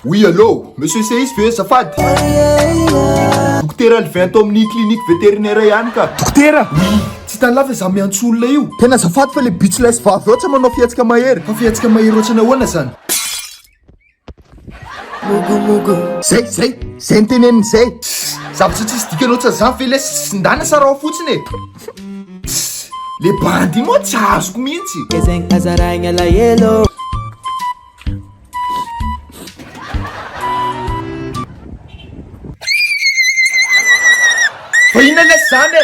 Oui allô, monsieur seisy ve azafady? Dokotera Alvin ato amin'ny clinique vétérinaire ihany ka. Dokotera? Oui, tsy hitan'i la fa izaho miantso olona io. Tena azafady fa le bitch laisy vavy ao tsy manao fihetsika mahery. Fa fihetsika mahery ohatrany ahoana izany? Zay, zay, zay ny teneniny zay. Zavatra tsisy dikany ohatsa zany ve lesy sindana sa rao fotsiny e. Le bandy moa tsy azoko mihitsy. Gezegny azaraigny alahelo. Fa inona lesy zany e.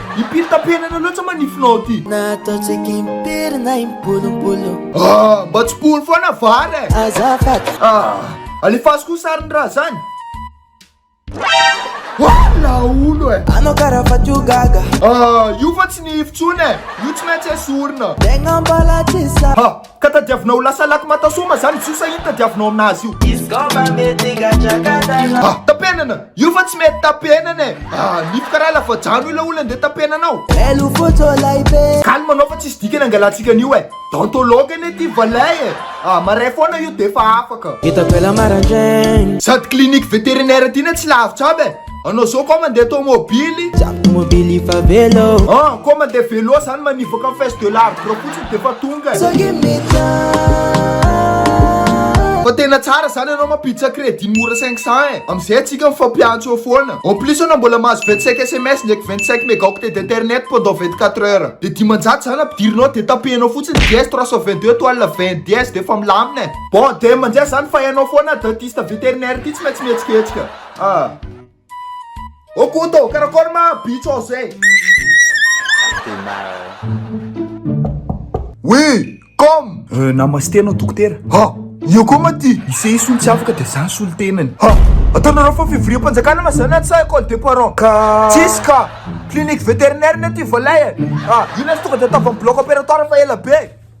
Impiry tapenana loatsa ma nifinao aty? Nataontsika impiry na impolompolo. Ah, mba tsipohony foana vary e. Azafady. Ah, alefaso koa sariny raha zany. Wala olo e. Anao karaha fa tio gaga. Ah, io fa tsy nify tsony e. Io tsy maintsy esorina. Tegna mbala tsy sa. Ha. Ka tadiavina ho lasa lac Matasoma zany izy io sa ino tadiavinao aminazy io? Izy ko mba mety gadragadra anao. Ah! Tapenana! Io fa tsy mety tapenana e! Ah! Nifoka raha lafajano ilay olona ndeha tapenana anao! Elo fotsy olay be! Calme anao fa tsisy dikany angalantsika an'io e! Dentologue anie ty valay e! Ah! Marais foana io defa afaka! Hitako ela maraindraigny! Sady clinique vétérinaire ty ne tsy lavitra aby e! Anao zao koa mandeha tomobily Tomobily fa velo Ah, koa mandeha velo zany manivaka ny face de l'arbre fotsiny dia fa tonga So give me time Fa tena tsara zany anao mampiditra crédit mora 500 eh Amizay atsika mifampiantso eo foana En plus anao mbola mahazo 25 sms ndraiky 25 megaoctets d'internet pendant 24 heures Dia dimanjato zany ampidirinao dia tapehinao fotsiny DS 322 étoile 20 dièse dia efa milamina eh Bon, dia mandeha zany fa ianao foana dentiste vétérinaire ty tsy maintsy mihetsiketsika Ah. Ô Koto, karakôry ma bitso zay? Tena. Oui, comme. Euh, namaste anao dokotera. Ha, io koa ma ty. I Seisony tsy afaka dia zany solontenany. Ha, ataonareo fa fivoriam-panjakana ma zany sa école des parents? Ka. Tsisy ka. Clinique vétérinaire na ty voalay. Ah, io na tonga dia ataovy amin'ny bloc opératoire fa ela be.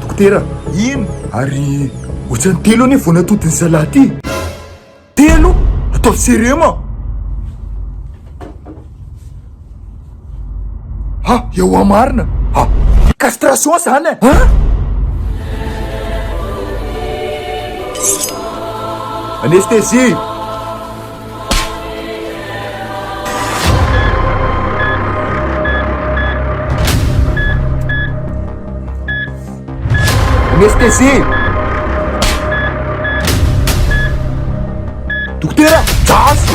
Dokotera, ino? Ary ohatrany telo anie vao natodin'ny zalahy ty. Telo? Ataovy serema. Ha, eo amarina. Ha, castration zany e. Ha? Anesthésie. Anesthésie Dokotera, jasy!